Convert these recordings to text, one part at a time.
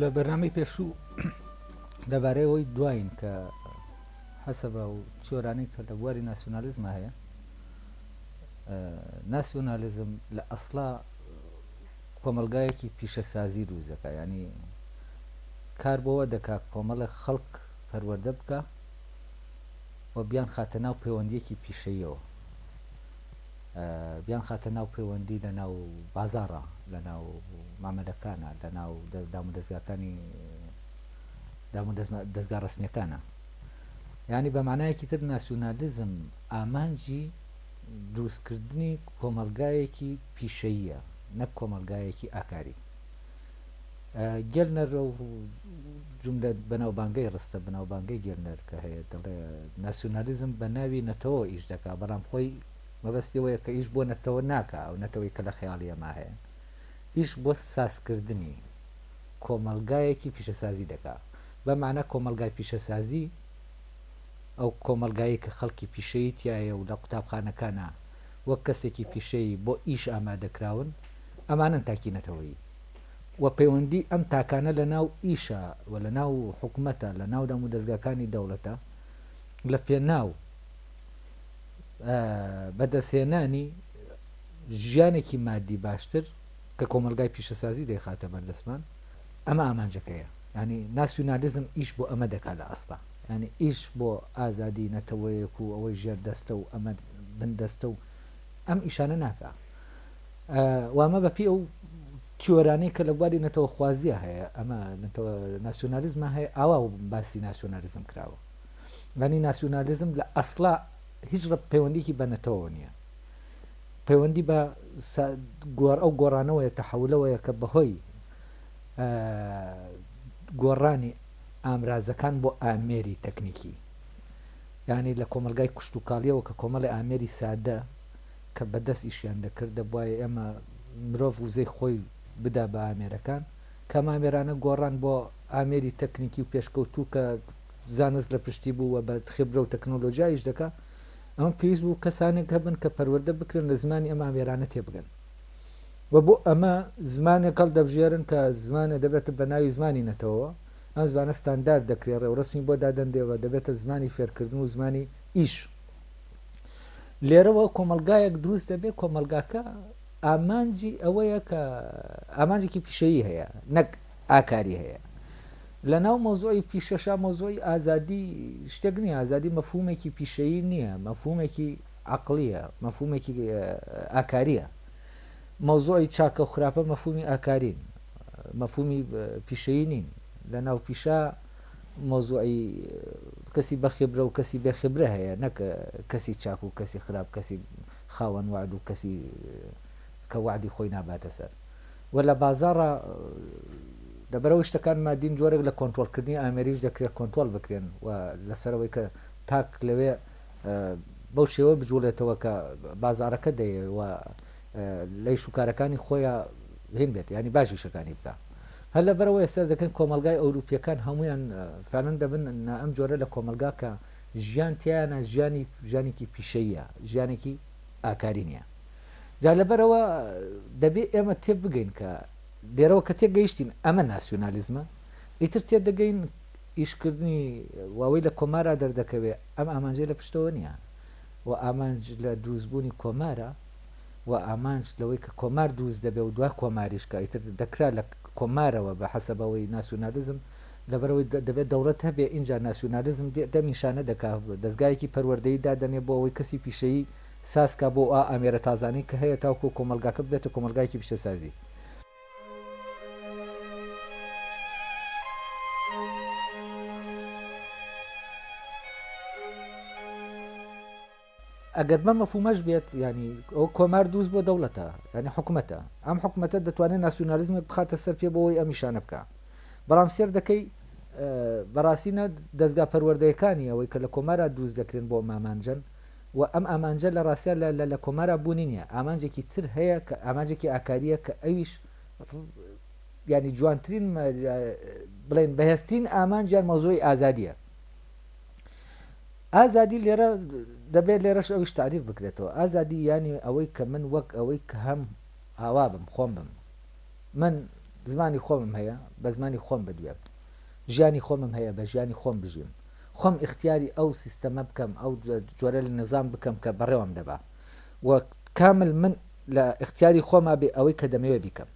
لە بەرنامەی پێشوو لەبارەی ئەوەی دواین کە حەسەبە و چۆرانەی کە لە بواری ناسیۆنالیزمە هەیە ناسیۆنالیزم لە ئەسڵا کۆمەلگایەکی پیشەسازی دووزەکە ینی کار بۆەوە دەکا کۆمەڵە خەڵک پەروەەردە بکە و بیان خاتە ناو پەیوەندیەکی پیشەیەوە بیانخاتە ناو پێوەندی لە ناو بازاڕا، لە ناو مامەلەکانا، لە ناو دامودەزگاکانی دامودەزگا ڕەسمیەکانا. یانی بە مانایەکی تر ناسیونالیزم ئامانجی دروستکردنی کۆمەڵگایەکی پیشەییە نەک کۆمەڵگایەکی ئاکاری. گێلنەر ئەو جوملە بەناوبانگەی ڕستە بەناوبانگەی گێلنەر کە هەیە دەڵێ ناسیۆنالیزم بە ناوی نەتەوە ئیش دەکا بەڵام خۆی مەبەستیەوەیە کە ئیش بۆ نەتەوە ناکە ئەو نەتەوەی کە لە خەیاڵی ئەما هەیە ئیش بۆ سازکردنی کۆمەلگایەکی پیشەسازی دەکا بەمانە کۆمەلگای پیشەسازی ئەو کۆمەلگایی کە خەڵکی پیشەیتیایە و لە قوتابخانەکانە وەک کەسێکی پیشەیی بۆ ئیش ئامادەکراون، ئەمانەن تاکی نەتەوەیی و پەیوەندی ئەم تاکانە لە ناو ئیشە و لە ناو حکومەتە، لە ناو دامودەزگاکانی دەوڵەتە لە پێناو بەدەستهێنانی ژیانێکی مادی باشتر کە کۆمەڵگای پیشەسازی دەیخاتە بەردەستمان، ئەمە ئامانجەکەیە، یانی ناسیونالیزم ئیش بۆ ئەمە دەکات لە ئەسڵا. یانی ئیش بۆ ئازادی نەتەوەیەک و ئەوەی ژێر دەستە و ئەمە بن دەستە و ئەم ئیشانە ناکا وامە بە پێ و تیۆرانەی کە لە بواری نەتەوە خوازیە هەیە ئەمە ناسیۆنالیزمە هەیە ئاوا و باسی ناسیۆنالیزم کراوە لانی ناسیۆنالیزم لە ئەسلا هیچ ڕە پەیوەندیکی بە نەتەوە نییە پەیوەندی بە گۆڕ ئەو گۆڕانەوەیە تەحولەوەیە کە بەهۆی گۆڕانی ئامرازەکان بۆ ئامێری تەکنیکی یانی لە کۆمەڵگای کشتوکاڵیەوە کە کۆمەڵی ئامێری سادە کە بە دەست ئیشیان دەکرد دەبوایە ئێمە مرۆڤ وزەی خۆی بدا بە ئامێرەکان کە ئەم ئامێرانە گۆڕان بۆ ئامێری تەکنیکی و پێشکەوتوو کە زانست لە پشتی بوو و بە خبرە و تەکنۆلۆژیایش دەکا ئەمە پێویست بوو کەسانێک هەبن کە پەروەردە بکرێن لە زمانی ئەم ئامێرانە تێبگەن و بۆ ئەمە زمانێک هەڵدەبژێرن کە زمانە دەبێتە بە ناوی زمانی نەتەوەوە، ئەم زمانە ستاندارد دەکرێ، ڕێوڕەسمی بۆ دادەنرێ و دەبێتە زمانی فێرکردن و زمانی ئیش. لێرەوە کۆمەڵگایەک دروست دەبێ، کۆمەڵگاکە ئامانجی ئەوەیە کە ئامانجێکی پیشەیی هەیە، نەک ئاکاری هەیە. لە ناو مەوزوعی پیشەشا مەوزوعی ئازادی شتێک نییە، ئازادی مەفهومێکی پیشەیی نییە، مەفهومێکی عەقڵییە، مەفهوومێکی ئاکارییە. مەوزووعی چاکە و خراپە مەفهوومی ئاکارین، مەفهوومی پیشەیی نین. لە ناو پیشە مەوزووعی کەسی بەخیبرە و کەسی بێ خیبرە هەیە، نەک کەسی چاک و کەسی خراپ، کەسی خاوەن وەعد و کەسی کە وەعدی خۆی ناباتە سەر. وە لە بازاڕا لەبەرئەوەی شتەکان مادین جۆرێک لە کۆنترۆڵکردنی ئامێریش دەکرێت کۆنترۆڵ بکرێن و لەسەرەوەی کە تاک لەوێ بەو شێوە بجوڵێتەوە کە بازاڕەکە دەیەوێ و لەی شوکارەکانی خۆیە هین بێت ینی باش یشەکانی بکە هەر لە بەرەوە ئێستا دەکەن کۆمەلگای ئەوروپیەکان هەمویان فەرن دەبن ئەم جۆرە لە کۆمەلگا کە ژیان تیانە ژیانی ژیانێکی پیشەیە ژیانێکی ئاکاری نیە جا لەبەرەوە دەبێت ئێمە تێ بگەین کە دێرەوە کە تێگەیشتین ئەمە ناسیۆنالیزمە ئیتر تێ دەگەین ئیشکردنی واوەی لە کۆمارا دەردەکەوێ ئەم ئامانجە لە پشتەوە نییە و ئامانج لە دروستبوونی کۆمارە و ئامانج لەوەی کە کۆمار دروست دەبێ و دوا کۆماریش کە ئیتر دەکرا لە کۆمارەوە بە حەسەبەوەی ناسیونالیزم لەبەرئەوەی دەبێ دەوڵەت هەبێ ئینجا ناسیونالیزم دێ دەم نیشانە دەکا دەزگایەکی پەروەردەیی دادەنێ بۆ ئەوەی کەسی پیشەیی ساز کا بۆ ئا ئامێرە تازانەی کە هەیە تاوکوو کۆمەڵگاکە ببێتە کۆمەڵگایەکی پیشەسازی. ئەگەر بە مەفومەش بێت ینی ئەو کۆمار دووست بۆ دەوڵەتە ینی حکوومەتە ئەم حکوومەتە دەتوانێت ناسیۆنالیزمێک بخاتە سەر پێ بۆەوەی ئەم نیشانە بکە بەڵام سێر دەکەی بەڕاستینە دەستگا پەروەردەیەکانی ئەوەی کە لە کۆمارە دووست دەکرێن بۆ مامانجن و ئەم ئامانجە لە ڕاستیا لە لە لە کۆمارا بوونی نیە ئامانجێکی تر هەیە کە ئامانجێکی ئاکاریە کە ئەویش یانی جوانترین بڵێن بەهێزترین ئامانج یان مەوزوعی ئازادیە ئازادی لێرە دەبێت لێرەش ئەویش تعریف بکرێتەوە ئازادی ینی ئەوەی کە من وەک ئەوەی کە هەم ئاوا بم خۆم بم من زمانی خۆمم هەیە بە زمانی خۆم بدوێم ژیانی خۆمم هەیە بە ژیانی خۆم بژیم خۆم ئیختیاری ئەو سیستەمە بکەم ئەو جۆرە لە نەزام بکەم کە بەڕێوەم دەبا و کامل من لە ئیختیاری خۆما بێ ئەوەی کە دەمەوێ بیکەم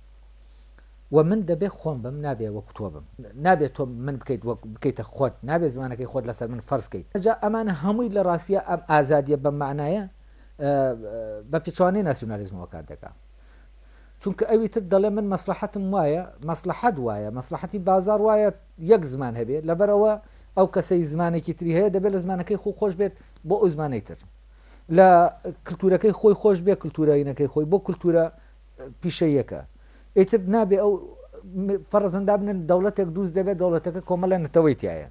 و من دەبێ خۆم بم نابێ وەکو تۆ بم نابێ تۆ من بکەیت وەک بکەیتە خۆت نابێ زمانەکەی خۆت لەسەر من فەرز کەیت جا ئەمانە هەمووی لە ڕاستیە ئەم ئازادیە بەم مەعنایە بە پێچەوانەی ناسیونالیزمەوە کار دەکا چونکە ئەوی تر دەڵێ من مەسلحەتم وایە مەسلحەت وایە مەسلحەتی بازار وایە یەک زمان هەبێ لەبەرئەوە ئەو کەسەی زمانێکی تری هەیە دەبێ لە زمانەکەی خۆ خۆش بێت بۆ ئەو زمانەی تر لە کللتورەکەی خۆی خۆش بێ کللتورینەکەی خۆی بۆ کللتورە پیشەیەکە ئیتر نابێ ئەو فەرزەندا بنن دەوڵەتێک دووست دەبێت دەوڵەتەکە کۆمەلە نەتەوەی تایە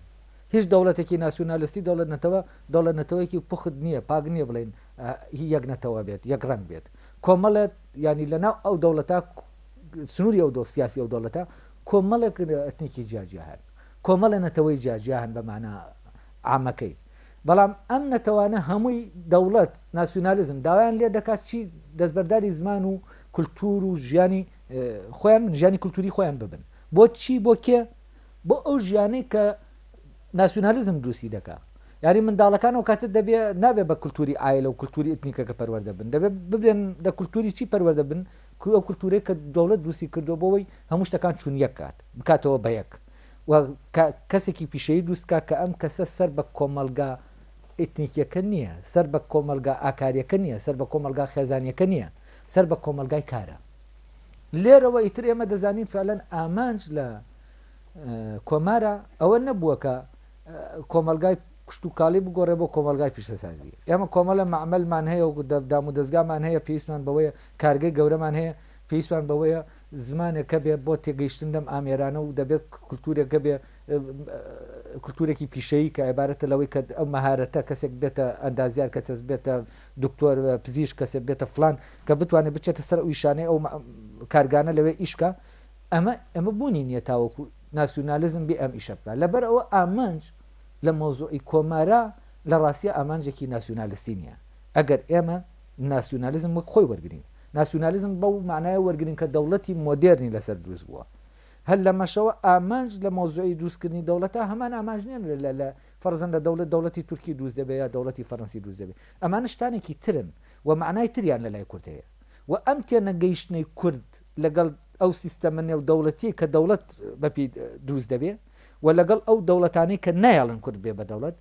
هیچ دەوڵەتێکی ناسیونالیستی دەوڵەت نەتەوە دەوڵەت نەتەوەیەکی پخت نییە پاک نییە بڵین یەک نەتەوە بێت یەک ڕنگ بێت کۆمەڵێت ینی لەناو ئەو دەوڵەتە سنووری ئەو دۆ سیاسی ئەو دەوڵەتە کۆمەڵێک ئەتنیکی جیا جیا هەن، کۆمەڵێ نەتەوەی جیا جیا هەن بە مانا عامەکەی، بەڵام ئەم نەتەوانە هەمووی دەوڵەت، ناسیونالیزم، داوایان لێ دەکات چی دەستبەرداری زمان و کولتوور و ژیانی خۆیان بن، ژیانی کولتووری خۆیان ببن، بۆ چی، بۆ کێ، بۆ ئەو ژیانەی کە ناسیونالیزم دروستی دەکا، یانی منداڵەکان ئەو کاتە دەبێ نابێ بە کولتووری عایلە و کولتووری ئەتنیکەکە پەروەردە بن، دەبێ ببێن لە کولتووری چی پەروەردە بن، کوی ئەو کلتورەی کە دەوڵەت دروستی کردوە بۆ وەی هەموو شتەکان چون یەک کات بکاتەوە بە یەک و کە کەسێکی پیشەیی دروست بکات کە ئەم کەسە سەر بە کۆمەڵگا ئیتنیکیەکە نیە سەر بە کۆمەڵگا ئاکاریەکە نیە سەر بە کۆمەڵگا خێزانیەکە نیە سەر بە کۆمەڵگای کارە لێرەوە ئیتر ئێمە دەزانین فعلەن ئامانج لە کۆمارە ئەوە نەبووە کە کۆمەلگای کشتتوکاڵی بگۆڕێ بۆ کۆمەلگای پیشەسازی ئێمە کۆمەلە معملمان هەیە و دام و دەستگامان هەیە پێویستمان بەوەیە کارگەی گەورەمان هەیە، پێویستمان بەوەیە زمانێک هەبێ بۆ تێگەیشتن لەم ئامێرانە و دەبێ کلتورێک هەبێ، کلتورێکی پیشەیی کە عیبارەتە لەوەی کە ئەو مەهارەتە کەسێک ببێتە ئەندازیار، کەسێک ببێتە دکتۆر، پزیشک، کەسێک ببێتە فڵان، کە بتوانێ بچێتە سەر ئەو ئیشانەی ئەو کارگانە لەوێ ئیش کا، ئەمە ئەمە بوونی نییە تاوەکو ناسیونالیزم بێ ئەم ئیشە بکا. لەبەر ئەوە ئامانج لە مەوزوعی کۆمارا لە ڕاستیا ئامانجێکی ناسیونالیستی نییە. ئەگەر ئێمە. ناسیونالیزم وەک خۆی وەرگرین. ناسیونالیزم بەو مانایە وەرگرین کە دەوڵەتی مۆدێرنی لەسەر دروست بووە. هەر لەمەشەوە ئامانج لە مەوزوعی دروستکردنی دەوڵەتا هەمان ئامانج نیە لە لە فەرزەن لە دەوڵەت دەوڵەتی تورکی دروست دەبێ یا دەوڵەتی فەرەنسی دروست دەبێ. ئەمانە شتانێکی ترن و مانای تریان لە لای کورد هەیە و ئەم تێنەگەیشتنەی کورد لەگەڵ ئەو سیستەمە نێودەوڵەتیەی کە دەوڵەت بەپێی دروست دەبێ و لەگەڵ ئەو دەوڵەتانەی کە نایەڵن کورد ببێ بە دەوڵەت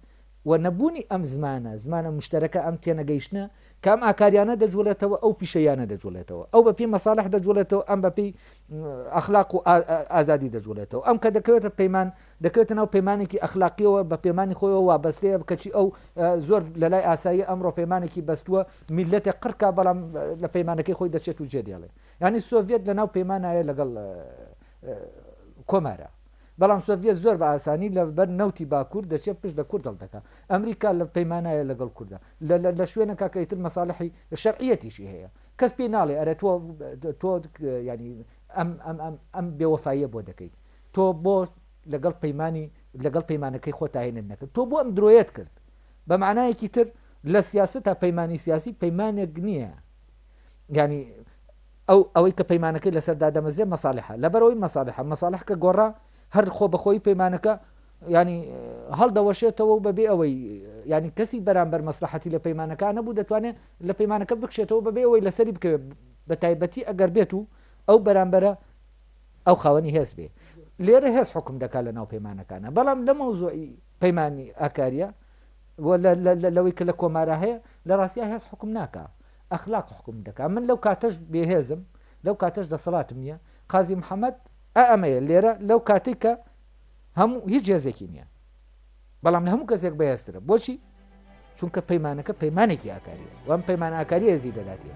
و نەبوونی ئەم زمانە، زمانە موشتەرەکە، ئەم تێنەگەیشتنە کە ئەم ئاکارییانە دەجووڵێتەوە، ئەو پیشەییانە دەجووڵێتەوە، ئەو بەپێی مەسالح دەجووڵێتەوە، ئەم بەپێی ئەخلاق و ئازادی دەجووڵێتەوە، ئەم کە دەکەوێتە پەیمان، دەکەوێتە ناو پەیمانێکی ئەخلاقییەوە، بە پەیمانی خۆیەوە وابەستەیە، کەچی ئەو زۆر لە لای ئاساییە ئەمڕۆ پەیمانێکی بەستووە، میللەتێک قڕ کا، بەڵام لە پەیمانەکەی خۆی دەچێت و جێدێڵێ. یانی سۆڤیەت لەناو پەیمانایە لەگەڵ کۆمارا. بەڵام سۆڤیەت زۆر بە ئاسانی لە بەر نەوتی باکور دەچێ پشت لە کورد هەڵدەکا ئەمریکا لە پەیمانایە لە گەڵ کوردا لە لە لە شوێنەکا کە ئیتر مەسالحی شەرعیەتیشی هەیە کەس پێی ناڵێ ئەرێ تۆ تۆ یانی ئەم ئەم ئەم ئەم بێوەفاییە بۆ دەکەیت تۆ بۆ لەگەڵ پەیمانی لەگەڵ پەیمانەکەی خۆ تاهێنت نەکرد تۆ بۆ ئەم درۆیەت کرد بە معنایەکی تر لە سیاست تا پەیمانی سیاسی پەیمانێک نییە ینی ئەو ئەوەی کە پەیمانەکەی لەسەر دادەمەزرێ مەسالحە لەبەرئەوەی مەسالحە مەسالح کە گۆڕا هەر خۆ بەخۆی پەیمانەکە یانی هەڵدەوەشێتەوە و بەبێ ئەوەی یانی کەسی بەرامبەر مەسلحەتی لە پەیمانەکە نەبوو دەتوانێت لە پەیمانەکە بکشێتەوە بەبێ ئەوەی لەسەری بکەوێت بە تایبەتی ئەگەر بێت و ئەو بەرامبەرە ئەو خاوەنی هێز بێ لێرە هێز حکم دەکات لە ناو پەیمانەکانە بەڵام لە مەوزۆی پەیمانانی ئاکاریە لەوەی کە لە کۆمارە هەیە لە ڕاستیا هێز حکم ناکە ئەخلاق حوکم دەکات من لەو کاتەش بێهێزم لەو کاتەش دەسەڵاتم نیە قازی محمد ئە ئەمەیە لێرە لەو کاتەی کە هەموو هیچ هێزێکی نیە بەڵام لە هەموو کەسێک بەهێزترە بۆچی چونکە پەیمانەکە پەیمانێکی ئاکاریە وام پەیمان ئاکاری هێزی دەداتێ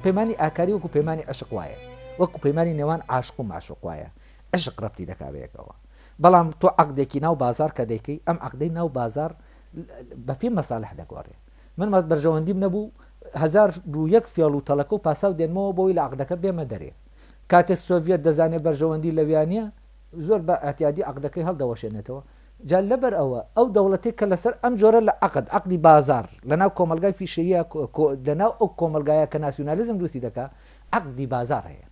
پەیمانی ئاکاری وەکو پەیمانی عشق وایە وەکو پەیمانی نێوان عاشق و معشق وایە عەشق رەبتی دەکا بەیەکەوە بەڵام تۆ عەقدێکی ناو بازار کە دەیکەی ئەم عەقدەی ناو بازار بە پێی مەسالح دەگۆرێ من بەرژەوەندیم نەبوو هەزار و یەک فێڵ و تەڵەکە و پاساو دێنمەوە بۆی لە عەقدەکە بێمە دەرێ کاتێ سۆڤیەت دەزانێ بەرژەوەندی لەویانە زۆر بە ئەتیادی عەقدەکەی هەڵدەوەشێنێتەوە جا لەبەر ئەوە ئەو دەوڵەتێک کە لەسەر ئەم جۆرە لە عەقد عەقدی بازار لەناو کۆمەلگای پیشەیە لەناو ئەو کۆمەلگایە کە ناسیونالیزم دروستی دەکا عەقدی بازار هەیە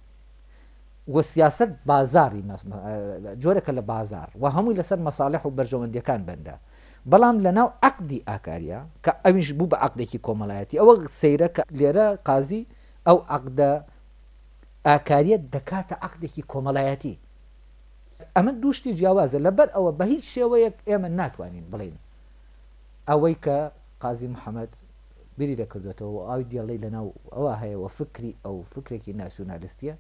و سیاسەت بازاڕی جۆرێکە لە بازاڕ و هەمووی لەسەر مەساڵح و بەرژەوەندیەکان بەندە بەڵام لەناو عەقدی ئاکاریە کە ئەویش بوو بە عەقدێکی کۆمەڵایەتی ئەوە سەیرە کە لێرە قازی ئەو عەقدە ئاکاریە دەکاتە عەقدێکی کۆمەڵایەتی ئەمە دوو شتی جیاوازە لەبەر ئەوە بە هیچ شێوەیەک ئێمە ناتوانین بڵین ئەوەی کە قازی محەممەد بیری دەکردۆتەوە و ئاوی دیاللەی لەناو ئەوا هەیە و فکری ئەو فکرێکی ناسیونالیستیە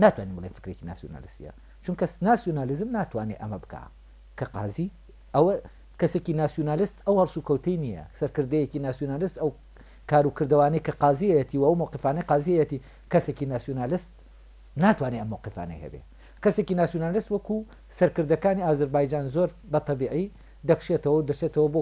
ناتوانین بڵێن فکرێکی ناسیونالیستیە چونکە ناسیونالیزم ناتوانێت ئەمە بکە کە قازی ئەوە کەسێکی ناسیونالیست ئەو هەڵسو کەوتەی نییە سەرکردەیەکی ناسیونالیست ئەو کارو کردوانەی کە قازیەتی و ئەو موقفانەی قازیەتی کەسێکی ناسیونالیست ناتوانێت ئەم موقفانەی هەبێ کەسێکی ناسیونالیست وەکو سەرکردەکانی ئازربایجان زۆر بە تەبیعی دەکشێتەوە و دەچێتەوە بۆ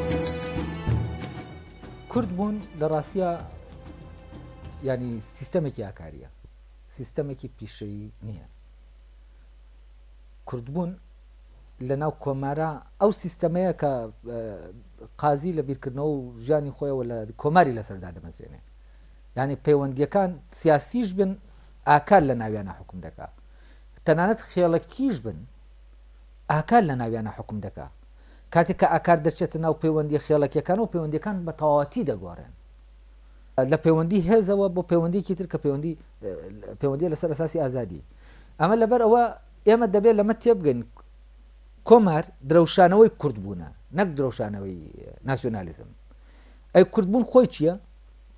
کورد بوون لە ڕاستە ینی سیستەمێکی ئاکاریە سیستەمێکی پیشەیی نییە کوردبوون لە ناو کۆمارە ئەو سیستەمەیە کە قازی لە بیرکردنەوە و ژیانی خۆیەوە لە کۆماری لەسەردا دەمەزرێنێ ینی پەیوەندیەکان سیاسیش بن ئاکار لە ناویانە حکم دەکا تەنانەت خێڵەکیش بن ئاکار لە ناویانە حکم دەکا کاتێک کە ئاکار دەچێتە ناو پەیوەندییە خێڵەکییەکانەوە، پەیوەندییەکان بە تەواوەتی دەگۆڕێن لە پەیوەندی هێزەوە بۆ پەیوەندییەکی تر کە پەیوەندی پەیوەندییە لەسەر ئەساسی ئازادی. ئەمە لەبەر ئەوە ئێمە دەبێت لەمە تێبگەین کۆمار درەوشانەوەی کورد بوونە نەک درەوشانەوەی ناسیۆنالیزم. ئەی کوردبوون خۆی چییە؟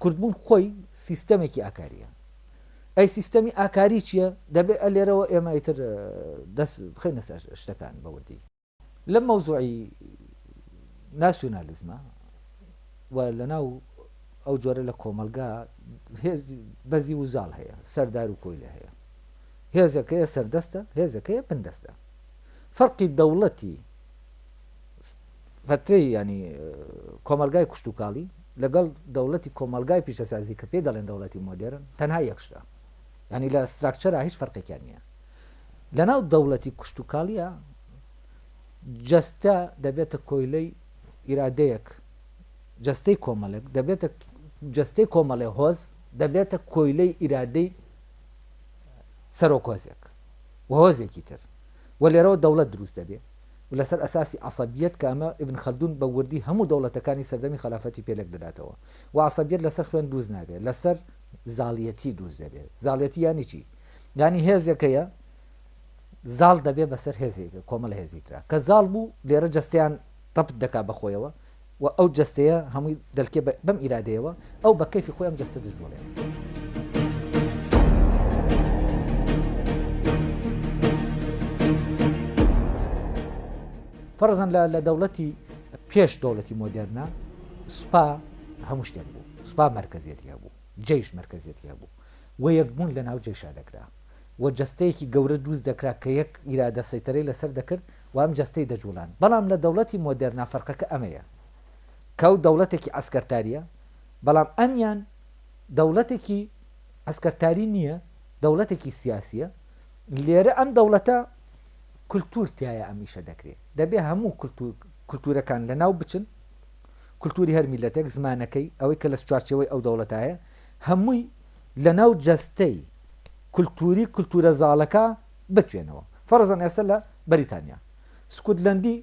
کوردبوون خۆی سیستەمێکی ئاکارییە. ئەی سیستەمی ئاکاری چییە؟ دەبێت ئە لێرەوە ئێمە ئیتر دەست بخینە سەر شتەکان بەوردی. لەم مەوزوعی ناسیۆنالیزمە و لەناو ئەو جۆرە لە کۆمەلگا بەزی و زاڵ هەیە سەردار و کۆیلە هەیە هێزەکەیە سەردەستە هێزەکەیە بندەستە فەرقی دەوڵەتی فترەی ینی کۆمەلگای کوشتتوکاڵی لەگەڵ دەوڵەتی کۆمەلگای پیشەسازی کە پێ دەڵێن دەوڵەتی مۆدێرن تەنها یەکشدا ینی لە ستراکچەرا هیچ فەرقێکیان نییە لەناو دەوڵەتی کوشتوکاڵیە جەستە دەبێتە کۆیلەی ئیرادەیەک، جەستەی کۆمەڵێک دەبێتە جەستەی کۆمەڵێ هۆز دەبێتە کۆیلەی ئیرادەی سەرۆک هۆزێک و هۆزێکی تر و لێرەوە دەوڵەت دروست دەبێ و لەسەر ئەساسی عەسەبیەت کە ئەمە ئیبن خەلدون بە وردی هەموو دەوڵەتەکانی سەردەمی خەلافەتی پێ لێک دەداتەوە و عەسەبیەت لەسەر خوێن دروست نابێ لەسەر زاڵیەتی دروست دەبێ زاڵیەتی یانی چی؟ یانی هێزێک هەیە زاڵ دەبێ بەسەر هێزێک کۆمەڵە هێزی ترا کە زاڵ بوو لێرە جەستەیان ڕەپت دەکا بەخۆیەوە و ئەو جەستەیە هەمووی دەلکێ بەم ئیرادەیەوە ئەو بە کەفی خۆیان جەستە دەژوڵێ. فەرزەن لە دەوڵەتی پێش دەوڵەتی مۆدررنا سوپا هەموو شتێک بوو سوپا مرکزیەتی هەبوو جیش مرکزیەتی هەبوو و یەکبوون لەناو جێیشا دەکرا و جەستەیەکی گەورە دروست دەکرا کە یەک ئیرادە سەیتەرەی لەسەر دەکرد و ئەم جەستەی دەجوڵاند بەڵام لە دەوڵەتی مۆدێرنا فەرقەکە ئەمەیە کە ئەو دەوڵەتێکی عەسکەرتاریە بەڵام ئەمیان دەوڵەتێکی عەسکەرتاری نیە دەوڵەتێکی سیاسیە لێرە ئەم دەوڵەتە کلتور تایە ئەم ئیشە دەکرێت دەبێ هەموو کلتور کلتورەکان لەناو بچن کلتوری هەر میلەتێک زمانەکەی ئەوەی کە لە چوارچەوەی ئەو دەوڵەتایە هەمووی لەناو جەستەی کولتووری کولتوورە زاڵەکە بتوێنەوە. فەرەزەن ئێستا لە بەریتانیا سکوتلەندی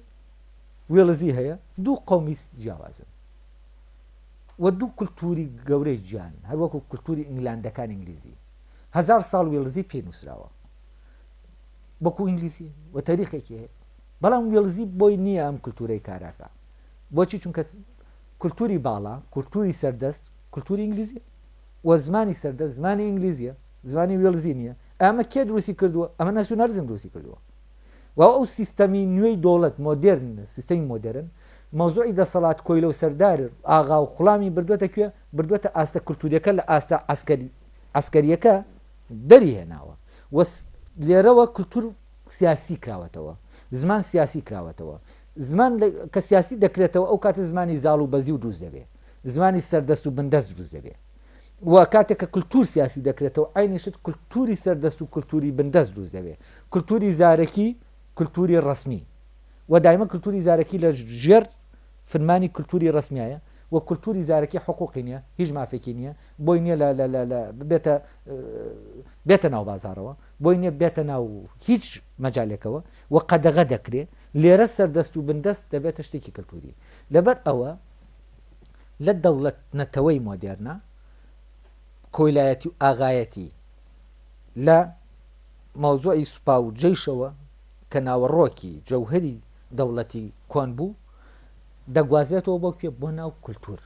وێڵزی هەیە، دوو قەومی جیاوازن و دوو کولتووری گەورەی جیان، هەروەکو کولتووری ئینگلاندەکان ئینگلیزی هەزار ساڵ وێڵزی پێی نووسراوە وەکو ئینگلیزی و تەریخێکی هەیە، بەڵام وێڵزی بۆی نییە ئەم کولتوورەی کاراکە بۆچی چونکە کولتووری باڵا کولتووری سەردەست کلتوری ئینگلیزیە و زمانی سەردەست زمانی ئینگلیزیە زمانی وێڵزی نیە ئەمە کێ دروستی کردووە ئەمە ناسیونالیزم دروستی کردووە و ئەو سیستەمی نوێی دەوڵەت مۆدێرن سیستەمی مۆدێرن مەوزوعی دەسەڵات کۆیلە و سەردار ئاغا و خوڵامی بردوێتە کوێ بردوێتە ئاستە کلتوریەکە لە ئاستە عسکەری عسکەریەکە دەری هێناوە و لێرەوە کلتور سیاسی کراوەتەوە زمان سیاسی کراوەتەوە زمان کە سیاسی دەکرێتەوە ئەو کاتە زمانی زاڵ و بەزی و دروست دەبێت زمانی سەردەست و بندەست دروست دەبێت و کاتێک کە کللتور سیاسی دەکرێتەوە ئاینی شت کللتوری سەردەست و کللتوری بندەست دروست دەبێت کللتوری زارەکی کللتوری ڕسمی و دایمە کللتوری زارەکی لە ژێر فرمانی کللتوری ڕسمیایە و کللتوری زارەکی حقوقی نییە هیچ مافێکی نییە بۆی نییە لە بێتە بێتە ناو بازارەوە بۆی نییە بێتە ناو هیچ مەجالێکەوە و قەدەغە دەکرێ لێرە سەردەست و بندەست دەبێتە شتێکی کللتوری لەبەر ئەوە لە دەوڵەت نەتەوەی مۆدێرنە کۆیلایەتی و ئاغایەتی لە مەوزوعی سوپا و جەیشەوە کە ناوەڕۆکی جەوهەری دەوڵەتی کۆن بوو دەگوازرێتەوە بۆ کوێ بۆ ناو کولتور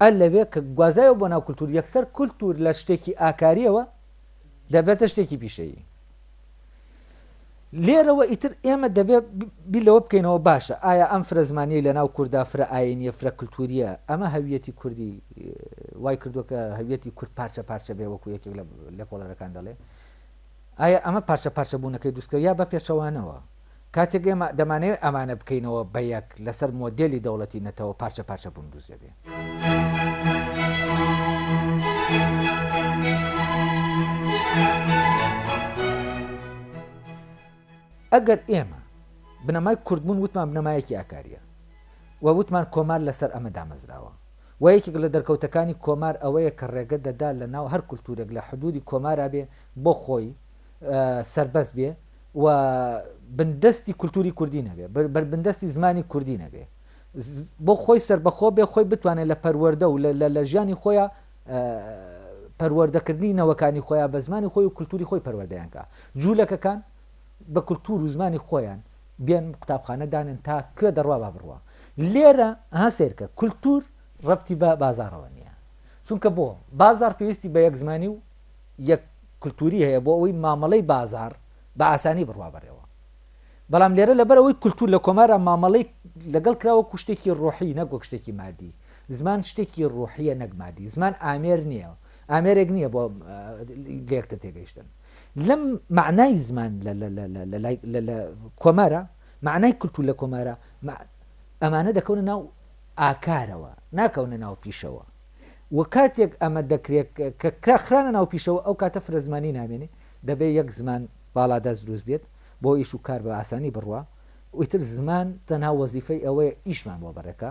ئە لەوێ کە گوازایەوە بۆ ناو کولتور یەکسەر کولتور لە شتێکی ئاکاریەوە دەبێتە شتێکی پیشەیی لێرەوە ئیتر ئێمە دەبێ بیر لەوە بکەینەوە باشە ئایا ئەم فرە زمانیە لە ناو کووردا فرە ئاینیە فرە کللتوریە ئەمە هەویەتی کوردی وای کردو کە هەویەتی کورد پارچە پارچە بێ وەکو یەکێک لە لێکۆڵەرەکان دەڵێ ئایا ئەمە پارچە پارچە بوونەکەی دوستکە یا بە پێچەوانەوە کاتێک ئێمە دەمانەوێت ئەمانە بکەینەوە بە یەک، لەسەر مۆدێلی دەوڵەتی نەتەوە پارچە پارچە بوون دروست دەبێت. ئەگەر ئێمە بنەمای کوردبوون وتمان بنەمایەکی ئاکارییە و وتمان کۆمار لەسەر ئەمە دامەزراوە و یەکێک لە دەرکەوتەکانی کۆمار ئەوەیە کە ڕێگە دەدات لەناو هەر کولتوورێک لە حدوودی کۆمارا بێ بۆ خۆی سەربەست بێ، و بندەستی کولتووری کوردی نەبێ، بندەستی زمانی کوردی نەبێ، بۆ خۆی سەربەخۆ بێ، خۆی بتوانێ لە پەروەردە و لە ژیانی خۆیا پەروەردەکردنی نەوەکانی خۆیا بە زمانی خۆی و کولتووری خۆی پەروەردەیان کا. جوولەکەکان بە کولتوور و زمانی خۆیان بێن قوتابخانە دانێن تا کوێ دەڕوا با بڕوا. لێرە ها سەیرکە کولتوور ڕەبتی بە بازاڕەوە نییە. چونکە بۆ؟ بازاڕ پێویستی بە یەک زمانی و یەک کلتوری هەیە بۆ ئەوەی مامەڵەی بازار بە ئاسانی بڕوا بەرێوە بەڵام لێرە لەبەر ئەوەی کلتور لە کۆمارا مامەڵەی لەگەڵ کرا وەکو شتێکی ڕۆحی نەک وەک شتێکی مادی زمان شتێکی ڕۆحیە نەک مادی زمان ئامێر نییە ئامێرێک نییە بۆ لەکتر تێگەیشتن لەم معنای زمان لە کۆمارە معنای کلتور لە کۆمارە ئەمانە دەکەونە ناو ئاکارەوە ناکەونە ناو پیشەوە و کاتێک ئەمە دەکرێت کە کرا خرانە ناو پیشەوە ئەو کاتە فرەزمانی نامێنێ دەبێ یەک زمان باڵادەست دروست بێت بۆ ئیش و کار بە ئاسانی بڕوا و ئیتر زمان تەنها وەزیفەی ئەوەیە ئیشمان بۆ بەڕێکا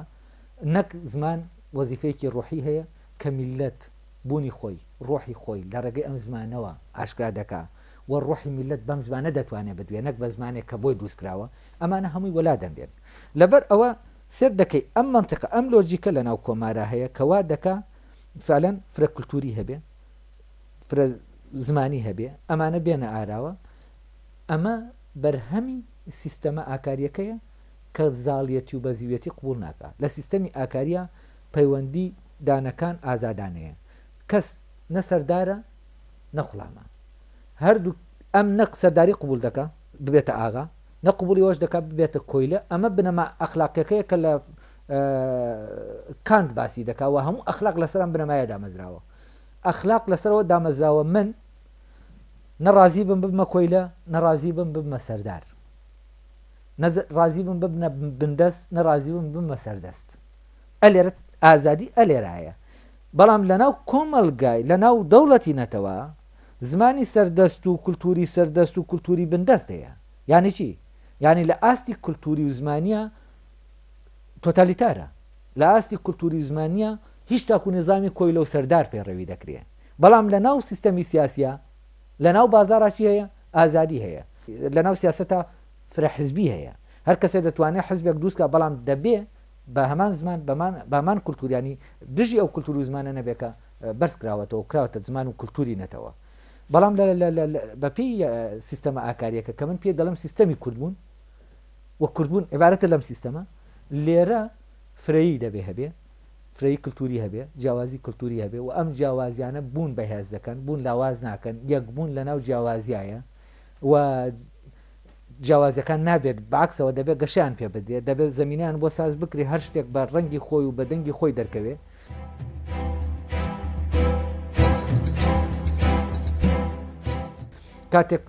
نەک زمان وەزیفەیەکی ڕۆحی هەیە کە میللەت بوونی خۆی ڕۆحی خۆی لە ڕێگەی ئەم زمانەوە ئاشکرا دەکا و ڕۆحی میللەت بەم زمانە دەتوانێ بدوێ نەک بە زمانێک کە بۆی دروست کراوە ئەمانە هەمووی وەلا دەنرێن لەبەر ئەوە سەیر دەکەی ئەم مەنتقە ئەم لۆجیکە لەناو کۆمارا هەیە کە وا دەکا فعلا فرە کلتوری هەبێ فرە زمانی هەبێ ئەمانە بێنە ئاراوە ئەمە بەرهەمی سیستەمە ئاکاریەکەیە کە زاڵیەتی و بەزیویەتی قبوڵ ناکا لە سیستەمی ئاکاریا پەیوەندی دانەکان ئازادانەیە کەس نە سەردارە نە خوڵامە هەردوو ئەم نە سەرداری قبوڵ دەکا ببێتە ئاغا نە قبوڵی ئەوەش دەکات ببێتە کۆیلە، ئەمە بنەما ئەخلاقیەکەیە کە لە کانت باسی دەکات و هەموو ئەخلاق لەسەر ئەم بنەمایە دامەزراوە. ئەخلاق لەسەر ئەوە دامەزراوە من نە ڕازی بم ببمە کۆیلە، نە ڕازی بم ببمە سەردار. نە ڕازی بم ببنە بندەست، نە ڕازی بم ببمە سەردەست. ئەلێرە ئازادی ئەلێرایە. بەڵام لەناو کۆمەڵگای لەناو دەوڵەتی نەتەوە زمانی سەردەست و کولتووری سەردەست و کولتووری بندەست هەیە. یانی چی؟ یانی لە ئاستی کولتووری و زمانییە تۆتالیتارە. لە ئاستی کولتووری و زمانییە هیچ تاکوو نیزامی کۆیلە و سەردار پەیڕەوی دەکرێ. بەڵام لە ناو سیستەمی سیاسییە، لە ناو بازاڕا چی هەیە؟ ئازادی هەیە. لە ناو سیاسەتا فرە حزبی هەیە. هەر کەسێ دەتوانێ حزبێک دروست کا بەڵام دەبێ بە هەمان زمان، بە هەمان کولتوور یانی دژی ئەو کولتوور و زمانە نەبێ کە بەرز کراوەتەوە و کراوەتە زمان و کولتووری نەتەوە. بەڵام بە پێی سیستەمە ئاکارییەکە کە من پێی دەڵێم سیستەمی کوردبوون و کوردبوون عیبارەتە لەم سیستەمە، لێرە فرەیی دەبێ هەبێ، فرەیی کولتووری هەبێ، جیاوازی کولتووری هەبێ و ئەم جیاوازییانە بوون بەهێز دەکەن، بوون لاواز ناکەن، یەکبوون لەناو جیاوازییایە و جیاوازیەکان نابێت بەعەکسەوە دەبێت گەشەیان پێ بدرێت، دەبێت زەمینەیان بۆ ساز بکرێت هەر شتێک بە ڕەنگی خۆی و بە دەنگی خۆی دەرکەوێت. کاتێک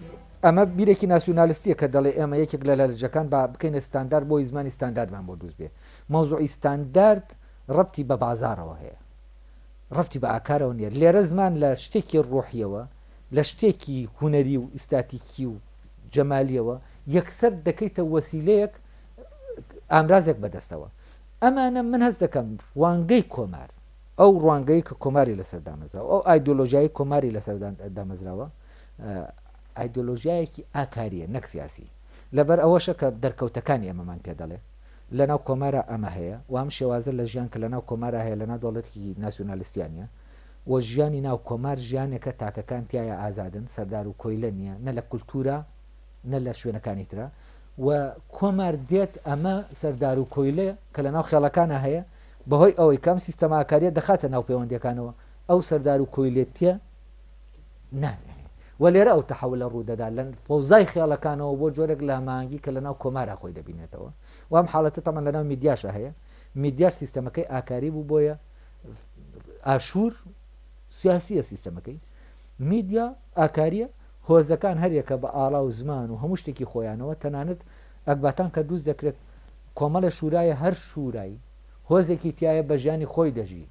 ئەمە بیرێکی ناسیونالیستیە کە دەڵێ ئێمە یەکێک لە لەلجەکان با بکەینە ستاندار بۆی زمانی ستانداردمان بۆ دروست بێ مەوزوعی ستاندارد ڕەتی بە بازارەوە هەیە ڕەتی بە ئاکارەوە نیە لێرە زمان لە شتێکی ڕۆحیەوە لە شتێکی هوەری و ئیستاتیکی و جەمالیەوە یەکسەر دەکەیتە وەسیلەیەک ئامرازێک بەدەستەوە ئەمانە من هەست دەکەم وانگەی کۆمار ئەو ڕوانگەی کە کۆماری لەسەر دامەزراوە ئەو ئایدۆلۆژیایی کۆماری لەسەر دامەزراوە ئایدۆلۆژیایەکی ئاکاریە نەک سیاسی لەبەر ئەوەشە کە دەرکەوتەکانی ئەمەمان پێ دەڵێ لەناو کۆمارە ئەمە هەیە وام شێوازە لە ژیان کە لەناو کۆمارە هەیە لەناو دەوڵەتێکی ناسیۆنالیستیانە و ژیانی ناو کۆمار ژیانێکە تاکەکان تیایا ئازادن سەردار و کۆیلە نیە نە لە کولتورا نە لە شوێنەکانی ترا و کۆمار دێت ئەمە سەردار و کۆیلە کە لە ناو خێڵەکانا هەیە بە هۆی ئەوەی کە ئەم سیستەمە ئاکاریە دەخاتە ناو پێوەندیەکانەوە ئەو سەردار و کۆیلێتیە نامێنێ و لێرە ئەو تەحەولە ڕوو دەدا لە فەوزای خێڵەکانەوە بۆ جۆرێک لە هەماهەنگی کە لە ناو کۆمارا خۆی دەبینێتەوە و ئەم حاڵەتە تەمان لە ناو میدیاشا هەیە میدیاش سیستەمەکەی ئاکاری بوو بۆیە ئاشوور سیاسیە سیستەمەکەی میدیا ئاکاریە هۆزەکان هەرێکە بە ئاڵا و زمان و هەموو شتێکی خۆیانەوە تەنانەت ئەکباتان کە دووست دەکرێت کۆمەڵە شورایە هەر شورایی هۆزێکی تایە بە ژیانی خۆی دەژی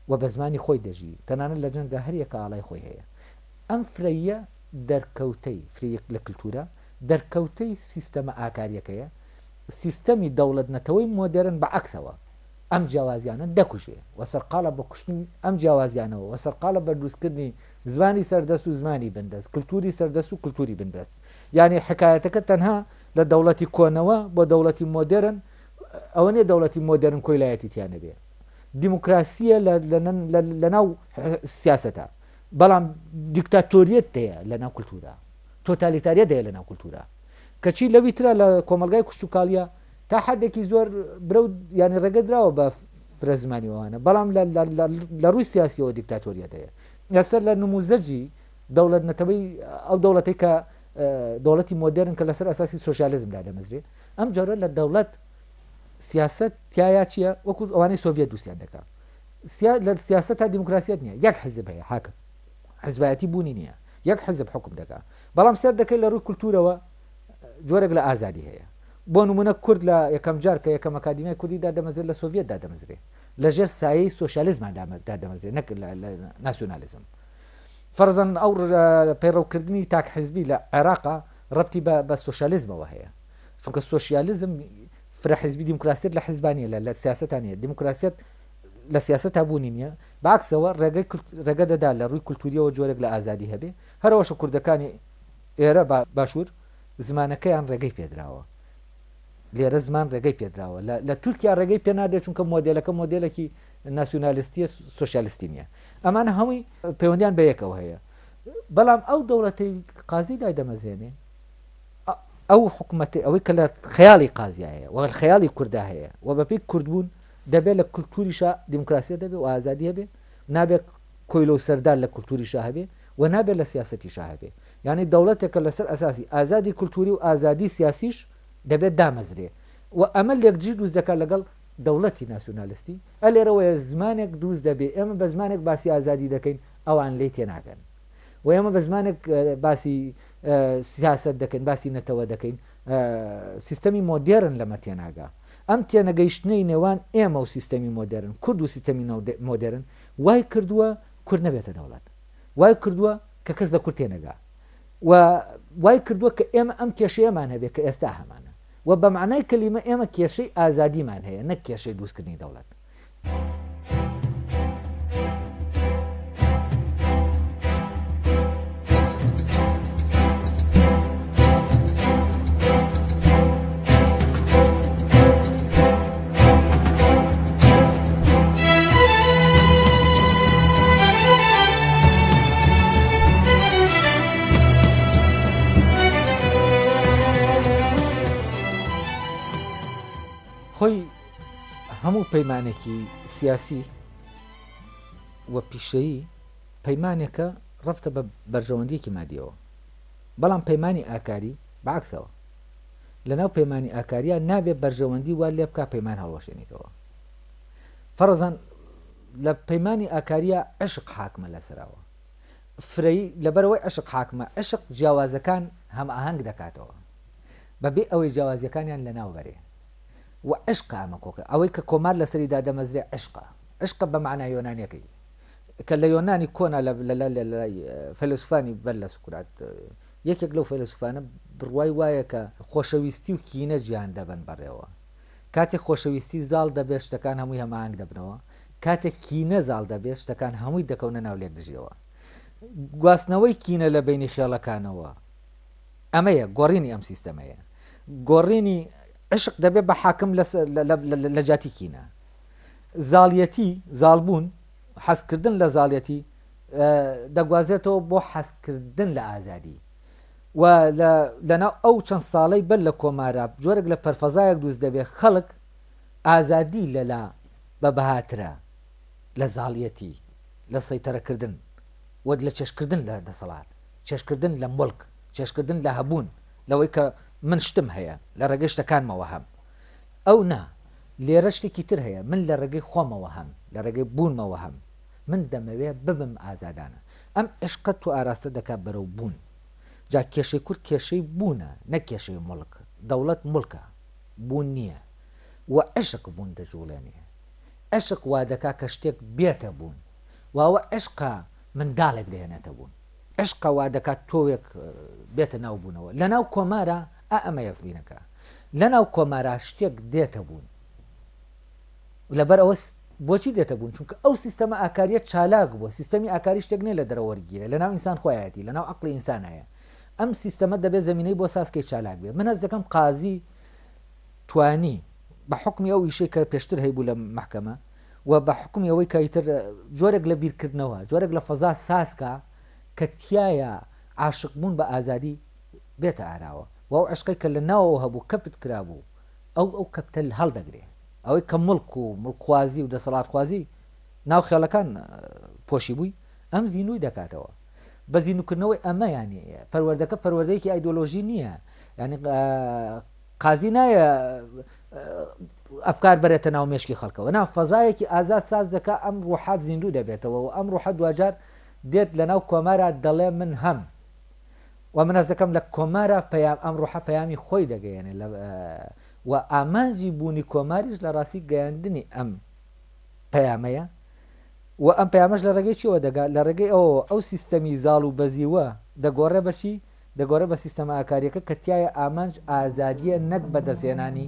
و بە زمانی خۆی دەژی تەنانە لە جەنگە هەریەکە ئاڵای خۆی هەیە ئەم فرەیە دەرکەوتەی فرەیەک لە کللتورە دەرکەوتەی سیستەمە ئاکاریەکەیە سیستەمی دەوڵەت نەتەوەی مۆدرن بە عکسەوە ئەم جیاوازیانە دەکوژێ و سەرقاڵە بە کوشتنی ئەم جیاوازیانەوە و سەرقاڵە بە دروستکردنی زمانی سەردەست و زمانی بندەست، کلتوری سەردەست و کلتوری بندەست. یانی حکایەتەکە تەنها لە دەوڵەتی کۆنەوە بۆ دەوڵەتی مۆدێرن ئەوە نیە دەوڵەتی مۆدێرن کۆیلایەتی تیا نەبێ. دیموکراسیە لە ناو سیاسەتا بەڵام دیکتاتۆریەت دەیە لە ناو کلتورا. تۆتالیتاریەت دەیە لە ناو کلتورا. کەچی لەوی ترا لە کۆمەڵگای کوشتوکاڵیە تا حەدێکی زۆر برە و یانی ڕێگە دراوە بە فرە زمانی ئەوانە بەڵام لە ڕووی سیاسیەوە دیکتاتۆریەت هەیە لەسەر لە نموزەجی دەوڵەت نەتەوەی ئەو دەوڵەتی کە دەوڵەتی مۆدرن کە لەسەر ئەساسی سوسیالزم دادەمەزرێ ئەم جۆرە لە دەوڵەت سیاست تایە چییە وەکو ئەوانەی سۆڤێت دووسیان دەکات لە سیاست تا دیموکراسیت نییە یەک حزب هەیە حاکم حزبایەتی بوونی نییە یەک حزب حکم دەکات بەڵام سەر دەکەی لە ڕووی کولتورەوە جۆرێک لە ئازادی هەیە. بۆ نموونە کورد لە یەکەم جار کە یەکەم ئەکادیمیای کوردی دادەمەزرێت لە سۆڤیەت دادەمەزرێ. لە ژێر سایەی سۆشیالیزما دادەمەزرێ نەک ناسیونالیزم. فەرزەن ئەو پەیڕەوکردنی تاک حزبی لە عێراقا ڕەبتی بە سۆشیالیزمەوە هەیە. چونکە سۆشیالیزم فرە حزبی دیموکراسیت لە حزبانیە لە سیاستانە دیموکراسیت لە سیاست هەبوونی نییە باکسەوە ڕێگە دەدا لە ڕووی کولتوریەوە جۆرێک لە ئازادی هەبێ هەرەوەشە کوردەکانی ئێرە بە باشوور زمانەکەیان ڕێگەی پێدراوە. لێرە زمان ڕێگەی پێدراوە. لە لە تورکیا ڕێگەی پێ نادرێت، چونکە مۆدێلەکە مۆدێلێکی ناسیونالیستییە، سۆسیالیستی نییە. ئەمانە هەمووی پەیوەندییان بە یەکەوە هەیە. بەڵام ئەو دەوڵەتەی قازی دایدەمەزرێنێ، ئەو حکومەتەی ئەوەی کە لە خەیاڵی قازیا هەیە و لە خەیاڵی کوردا هەیە و بەپێی کوردبوون دەبێت لە کولتووریشا دیموکراسییەت هەبێ و ئازادی هەبێ، نابێت کۆیلە و سەردار لە کولتووریشا هەبێ، و نابێت لە سیاسەتیشا هەبێت. یانی دەوڵەتێک کە لەسەر ئەساسی ئازادی کولتووری و ئازادی سیاسیش دەبێت دامەزرێ و ئەمە لێکدژی دروست دەکات لەگەڵ دەوڵەتی ناسیونالستی. ئە لێرەوەیە زمانێک دروست دەبێ ئێمە بە زمانێک باسی ئازادی دەکەین ئەوان لێی تێناگەن و ئێمە بە زمانێک باسی سیاسەت دەکەین باسی نەتەوە دەکەین سیستەمی مۆدێرن لەمە تێناگا. ئەم تێنەگەیشتنەی نێوان ئێمە و سیستەمی مۆدێرن کورد و سیستەمی مۆدێرن وای کردووە کورد نەبێتە دەوڵەت. وای کردووە کە کەس لە کورد تێنەگا و وای کردووە کە ئێمە ئەم کێشەیەمان هەبێت کە ئێستا هەمانە و بە مەعنای کەلیمە ئێمە کێشەی ئازادیمان هەیە نەک کێشەی دروستکردنی دەوڵەت. خۆی هەموو پەیمانێکی سیاسی و پیشەیی پەیمانێکە ڕفتە بە بەرژەوەندیەکی مادیەوە بەڵام پەیمانانی ئاکاری باکسەوە لەناو پەیمانی ئاکاریا نابێ بەرژەوەندی وا لێبکا پەیمان هەڵوەشێنیتەوە فەڕەزەن لە پەیمانی ئاکاریا عشق حاکمە لەسەراوە فرەی لەبەرەوەی عشق حاکمە عشق جیاوازەکان هەماهەنگ دەکاتەوە بەبێ ئەوەی جیاوازیەکانیان لەناو بەرێ و عشق ئەمە کۆکە ئەوەی کە کۆمار لەسەری دادەمەزرێ عشقە عشقە بە معنای یۆنانیەکەی کە لە یۆنانی کۆنا لە فەلسفانی بەر لە سکرات یەکێک لەو فەیلەسوفانە بڕوای وایە کە خۆشەویستی و کینە جیهان دەبەن بەڕێوە. کاتێک خۆشەویستی زاڵ دەبێت شتەکان هەمووی هەماهەنگ دەبنەوە، کاتێک کینە زاڵ دەبێت شتەکان هەمووی دەکەونە ناو لێکدژیەوە. گواستنەوەی کینە لە بەینی خێڵەکانەوە ئەمەیە، گۆڕینی ئەم سیستەمەیە. گۆڕینی عیشق دەبێت بە حاکم لە جیاتی کینە. زاڵیەتی، زاڵبوون، حەزکردن لە زاڵیەتی، دەگوازرێتەوە بۆ حەزکردن لە ئازادی و لە لەناو ئەو چەند ساڵەی بەر لە کۆمارا جۆرێک لە پەرفەزایەک دروست دەبێت خەڵک ئازادی لەلا بە بەهاترە لە زاڵیەتی لە سەیتەرەکردن و لە چێشکردن لە دەسەڵات چێشکردن لە مڵک چێشکردن لە هەبوون لەوەی کە من شتم هەیە لە ڕێگەی شتەکانمەوە هەم ئەو نا لێرە شتێکی تر هەیە من لە ڕێگەی خۆمەوە هەم لە ڕێگەی بوونمەوە هەم من دەمەوێ ببم ئازادانە. ئەم عیشقە تو ئاراستە دەکا بەرەو بوون. جا کێشەی کورد کێشەی بوونە نەک کێشەی موڵک. دەوڵەت موڵکە. بوون نییە. و عیشق بوون دەجووڵێنێ. عیشق وا دەکا کە شتێک بێتە بوون. و ئەوە عیشقە منداڵێک دەهێنێتە بوون. عیشقە وا دەکا تۆوێک بێتە ناو بوونەوە. لە ناو کۆمارا ئا ئەمەیە فڕینەکە. لە ناو کۆمارا شتێک دێتە بوون. لەبەر ئەوە بۆچی دێتە بوون؟ چونکە ئەو سیستەمە ئاکارییە چالاک بووە، سیستەمی ئاکاری شتێک نییە لە دەرەوە وەرگیرێت، لەناو ئینسان خۆیایەتی، لەناو عەقڵی ئینسانا هەیە. ئەم سیستەمە دەبێت زەمینەی بۆ ساز کەی چالاک بێت. من هەست دەکەم قازی توانی بە حوکمی ئەو ئیشەی کە پێشتر هەیبوو لە مەحکەمە و بە حوکمی ئەوەی کە ئیتر جۆرێک لە بیرکردنەوە، جۆرێک لە فەزا ساز کا کە تیایە عاشق بوون بە ئازادی بێتە ئاراوە و ئەو عەشقەی کە لە ناوەوە هەبوو کەپت کرابوو، ئەو ئەو کەپتە هەڵدەگرێ ئەوەی کە موڵک و موڵکخوازی و دەسەڵاتخوازی ناو خێڵەکان پۆشیبووی ئەم زینووی دەکاتەوە بە زینووکردنەوەی ئەمە یانی پەروەردەکە پەروەردەیەکی ئایدۆلۆژی نییە یانی قازی نایە ئەفکار بەرێتە ناو مێشکی خەڵکەوە نا فەزایەکی ئازاد ساز دەکا ئەم ڕوحات زیندوو دەبێتەوە و ئەم ڕوحە دواجار دێت لە ناو کۆمارە دەڵێ من هەم وە من هەست دەکەم لە کۆمارا پەیام ئەم ڕۆحە پەیامی خۆی دەگەیەنێ لە وە ئامانجی بوونی کۆماریش لە ڕاستی گەیاندنی ئەم پەیامەیە وە ئەم پەیامەش لە ڕێگەی چیەوە دەگا لە ڕێگەی ئەوەوە ئەو سیستەمی زاڵ و بەزیوە دەگۆڕێ بە چی دەگۆڕێ بە سیستەمە ئاکاریەکە کە تیایا ئامانج ئازادیە نەک بەدەستهێنانی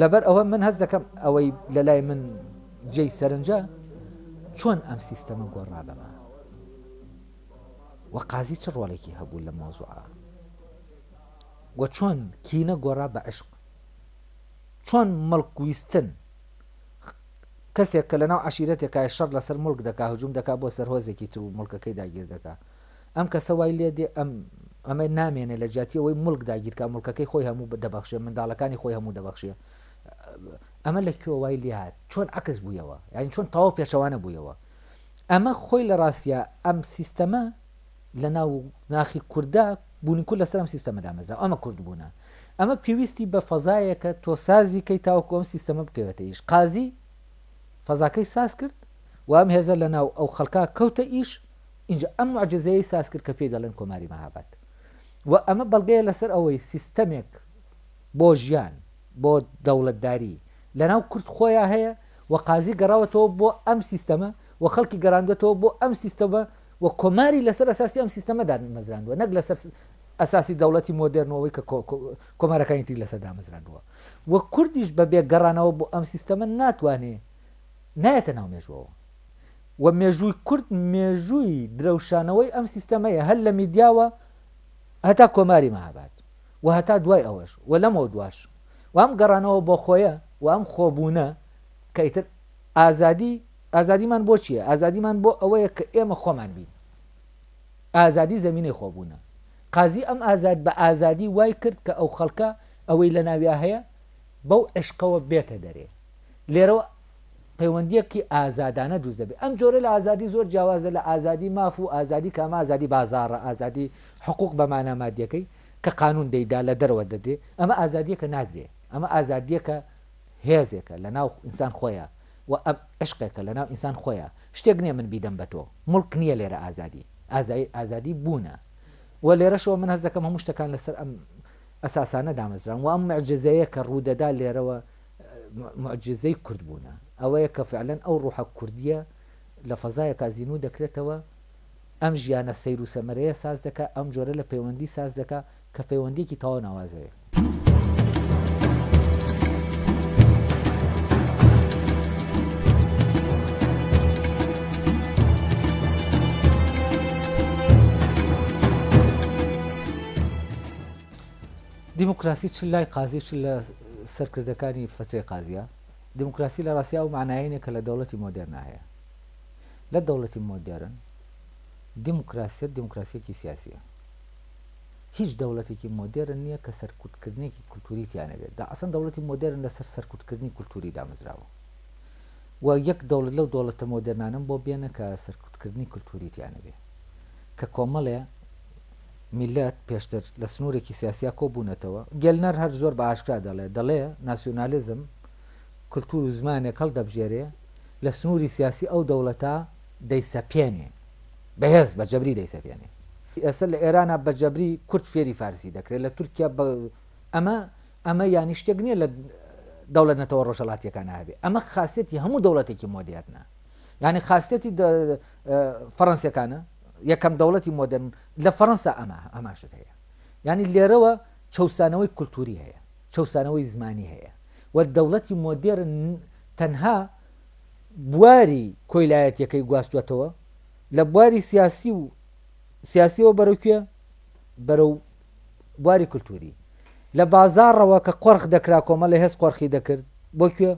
لەبەر ئەوە من هەست دەکەم ئەوەی لە لای من جێی سەرنجە چۆن ئەم سیستەمە گۆڕا بەمە وە قازی چ ڕۆڵێکی هەبوو لە مۆزوعە وە چۆن کینە گۆڕا بە عشق چۆن مەڵکویستن کەسێک کە لەناو عەشیرەتێکایە شەڕ لەسەر موڵک دەکا هجوم دەکا بۆ سەر هۆزێکی تر و موڵکەکەی داگیر دەکا ئەم کەسە وای لێ دێ ئەم ئەمە نامێنێ لە جیاتی ئەوەی موڵک داگیر کا موڵکەکەی خۆی هەموو دەبەخشێ منداڵەکانی خۆی هەموو دەبەخشێ ئەمە لە کوێ وای لێ هات چۆن عەکس بوویەوە یانی چۆن تەواو پێچەوانە بوویەوە ئەمە خۆی لە ڕاستیا ئەم سیستەمە لە ناو ناخی کوردا بوونی کورد لەسەر ئەم سیستەمە دامەزراوە ئەمە کورد بوونە ئەمە پێویستی بە فەزایەکە تۆ سازی کەی تاوەکو ئەم سیستەمە بکەوێتە ئیش قازی فەزاکەی ساز کرد و ئەم هێزە لە ناو ئەو خەڵکا کەوتە ئیش اینجا ئەم معجزەیە ساز کرد کە پێی دەڵێن کۆماری مەهاباد و ئەمە بەڵگەیە لەسەر ئەوەی سیستەمێک بۆ ژیان بۆ دەوڵەتداری لەناو کورد خۆیان هەیە و قازی گەڕاوەتەوە بۆ ئەم سیستەمە و خەڵکی گەراندوێتەوە بۆ ئەم سیستەمە و کۆماری لەسەر ئەساسی ئەم سیستەمە دامەزراندووە نەک لەسەر ئەساسی دەوڵەتی مۆدێرن و ئەوەی کە کۆمارەکانی تری لەسەر دامەزراندووە و کوردیش بە بێ گەڕانەوە بۆ ئەم سیستەمە ناتوانێ نایەتە ناو مێژوەوە و مێژووی کورد مێژووی درەوشانەوەی ئەم سیستەمەیە هەر لە میدیاوە هەتا کۆماری مەهاباد و هەتا دوای ئەوەش و لەمەوە دواش وام گەڕانەوە بۆ خۆیە وام خۆبوونە کە ئیتر ئازادی ئازادیمان بۆ چییە؟ ئازادیمان بۆ ئەوەیە کە ئێمە خۆمان بین. ئازادی زەمینەی خۆبوونە. قازی ئەم ئازاد بە ئازادی وای کرد کە ئەو خەڵکە ئەوەی لە ناویا هەیە بەو عیشقەوە بێتە دەرێ. لێرەوە پەیوەندییەکی ئازادانە دروست دەبێ. ئەم جۆرە لە ئازادی زۆر جیاوازە لە ئازادی ماف و ئازادی کە ئەمە ئازادی بازاڕە، ئازادی حقووق بە مانا مادییەکەی کە قانوون دەیدا لە دەرەوە دەدرێ. ئەمە ئازادییەکە نادرێ. ئەمە ئازادییەکە. هێزێکە لەناو ئینسان خۆیا و ئەم عیشقێکە لەناو ئینسان خۆیا شتێک نیە من بیدەم بە تۆ موڵک نیە لێرە ئازادی ئازایی ئازادی بوونە و لێرەشەوە من هەست دەکەم هەموو شتەکان لەسەر ئەم ئەساسانە دامەزراون و ئەم معجزەیە کە ڕوودەدا لێرەوە معجزەی کورد بوونە ئەوەیە کە فعلەن ئەو ڕوحە کوردیە لە فەزایە کازینو دەکرێتەوە ئەم ژیانە سەیر و سەمەرەیە ساز دەکە ئەم جۆرە لە پەیوەندی ساز دەکە کە پەیوەندیەکی تەواو ناوازەیە. دیموکراسی چ لای قازی چ لە سەرکردەکانی فترەی قازیە دیموکراسی لە ڕاستیا و معناینە کە لە دەوڵەتی مۆدرنا هەیە لە دەوڵەتی مۆدرن دیموکراسیت دیموکراسیەکی سیاسیە هیچ دەوڵەتێکی مۆدێرن نییە کە سەرکوتکردنێکی کولتووری تیا نەبێت، دا ئەسڵەن دەوڵەتی مۆدێرن لەسەر سەرکوتکردنی کولتووری دامەزراوە و یەک دەوڵەت لەو دەوڵەتە مۆدێرنانەم بۆ بێنە کە سەرکوتکردنی کولتووری تیا نەبێت کە کۆمەڵێ میللەت پێشتر لە سنوورێکی سیاسیا کۆ بوونەتەوە. گێلنەر هەر زۆر بە ئاشکرا دەڵێ، دەڵێ ناسیۆنالیزم کولتوور و زمانێک هەڵدەبژێرێ لە سنووری سیاسی ئەو دەوڵەتە دەیسەپێنێ. بەهێز بە جەبری دەیسەپێنێ. ئێستا لە ئێرانا بە جەبری کورد فێری فارسی دەکرێ، لە تورکیا بە ئەمە ئەمە یانی شتێک نییە لە دەوڵەت نەتەوە ڕۆژهەڵاتییەکانا هەبێ. ئەمە خاسیەتی هەموو دەوڵەتێکی مۆدێرنە. یانی خاسیەتی فەڕەنسییەکانە، یەکەم دەوڵەتی مۆدێرن لە فەڕەنسا ئەمە هەمان شت هەیە. یانی لێرەوە چەوسانەوەی کولتووری هەیە، چەوسانەوەی زمانی هەیە و دەوڵەتی مۆدێرن تەنها بواری کۆیلایەتیەکەی گواستوەتەوە لە بواری سیاسی و سیاسیەوە بەرەو کوێ بەرەو بواری کللتوری لە بازاڕەوە کە قۆرخ دەکرا کۆمە لە هێز قۆرخی دەکرد بۆ کوێ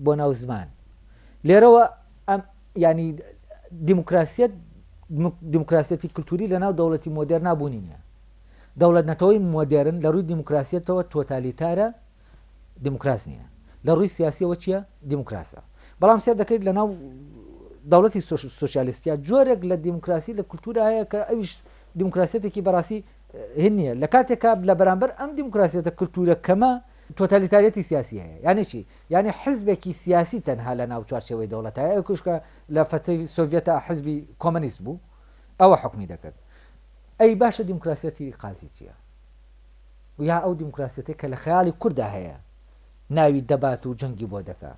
بۆ ناو زمان لێرەوە ئەم ینی دیموکراسیت دیموکراسیەتی کللتوری لە ناو دەوڵەتی مۆدێر نابوونی نیە دەوڵەت نەتەوەی مۆدێرن لە ڕووی دیموکراسیەتەوە تۆتالیتارە دیموکراس نیە لە ڕووی سیاسیەوە چیە دیموکراسە بەڵام سێر دەکەیت لە ناو دەوڵەتی سوسیالیستیا جۆرێک لە دیموکراسی لە کولتورا هەیە کە ئەویش دیموکراسیەتێکی بەڕاستی هین نیە لە کاتێکا لە بەرامبەر ئەم دیموکراسیەتە کولتورە کەمە تۆتالیتاریەتی سیاسی هەیە یعنی چی یعنی حزبێکی سیاسی تەنها لە ناو چوارچەوەی دەوڵەتە ئەو کوشکە لە فەتی سۆڤەتا حزبی کۆمەنیست بوو ئەوە حکومی دەکرد ئەی باشە دیموکراسیەتی قازی چیە یا ئەو دیموکراسیەتەی کە لە خەیاڵی کورددا هەیە ناوی دەبات و جەنگی بۆ دەکا،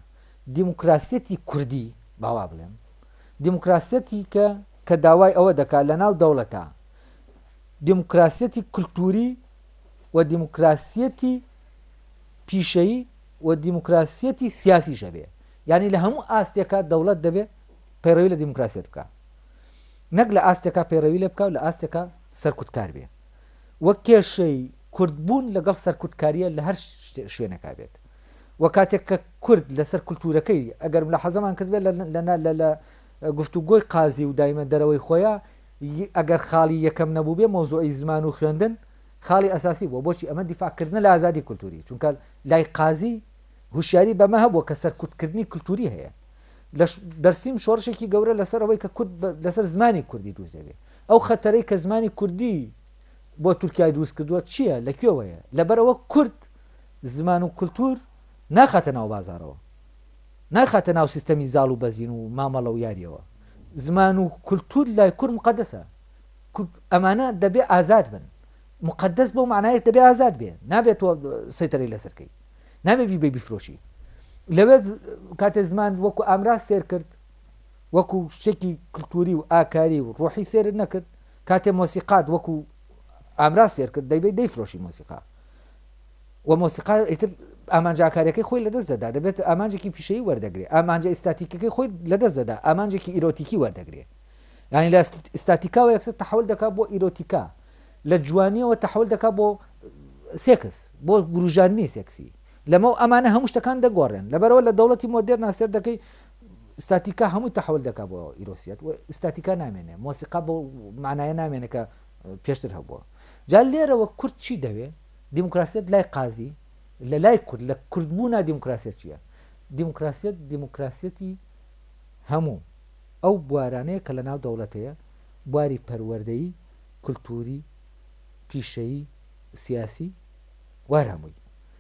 دیموکراسیەتی کوردی با وا بڵێم، دیموکراسیەتیکە کە داوای ئەوە دەکا لە ناو دەوڵەتا، دیموکراسیەتی کلتووری و دیموکراسیەتی پیشەیی و دیموکراسیەتی سیاسیش هەبێ، یانی لە هەموو ئاستێکا دەوڵەت دەبێ پەیڕەوی لە دیموکراسیەت بکا، نەک لە ئاستێکا پەیڕەوی لێ بکا و لە ئاستێکا سەرکوتکار بێ. و کێشەی کورد بوون لەگەڵ سەرکوتکاریە لە هەر شوێنێکا بێت و کاتێک کە کورد لەسەر کولتوورەکەی ئەگەر ملاحەزەمان کردبێت لە لە لە لە لە گفتوگۆی قازی و دایمە دەرەوەی خۆیە ی ئەگەر خاڵی یەکەم نەبووبێ مەوزوعی زمان و خوێندن خاڵی ئەساسی بووە بۆچی ئەمە دیفاعکردنە لە ئازادی کولتووری چونکە لای قازی هوشیاری بەمە هەبووە کە سەرکوتکردنی کولتووری هەیە لە دەرسیم شۆڕشێکی گەورە لەسەر ئەوەی کە کورد لەسەر زمانی کوردی دروست دەبێت ئەو خەتەرەی کە زمانی کوردی بۆ تورکیای دروست کردووە چییە؟ لە کوێوەیە؟ لەبەر ئەوە کورد زمان و کلتور ناخاتە ناو بازارەوە. ناخاتە ناو سیستەمی زاڵ و بەزین و مامەڵە و یارییەوە. زمان و کلتور لای کورد موقەدەسە. کورد ئەمانە دەبێ ئازاد بن. موقەدەس بەو مەعنایە دەبێ ئازاد بێ. نابێ تۆ سەیتەرەی لەسەر کەی. نابێ بیبەی بیفرۆشی. لەوێ کاتێ زمان وەکوو ئامراز سێر کرد، وەکو شتێکی کلتوری و ئاکاری و ڕۆحی سێرت نەکرد کاتێ مۆسیقات وەکو ئامراز سێر کرد دەیبێت دەیفرۆشی مۆسیقا و مۆسیقا ئیتر ئامانج ئاکارەکەی خۆی لەدەست دەدا دەبێت ئامانجێکی پیشەی وەردەگرێ ئامانجە ئستاتیکەکەی خۆی لەدەست دەدا ئامانجێکی ئیرۆتیکی وەردەگرێ ینی لە ئستاتیکاوە یەکسەر تحول دەکات بۆ ئیرۆتیکا لە جوانیەوە تحول دەکات بۆ سێکس بۆ گروژاننی سێکسی لەمە ئەمانە هەموو شتەکان دەگۆڕێن لەبەرەوە لە دەوڵەتی مۆدێر ناسێر دەکەی ئستاتیکا هەمووی تەحول دەکات بۆ ئیرۆسیەت و ئستاتیکا نامێنێ مۆسیقا بۆ مانایە نامێنێ کە پێشتر هەبووە جا لێرەوە کورد چی دەوێ دیموکراسیت لای قازی لە لای کورد لە کوردبوونا دیموکراسیت چییە دیموکراسیت دیموکراسیەتی هەموو ئەو بوارانەیە کە لە ناو دەوڵەتەیە بواری پەروەردەیی کللتوری پیشەیی سیاسی وارهمووی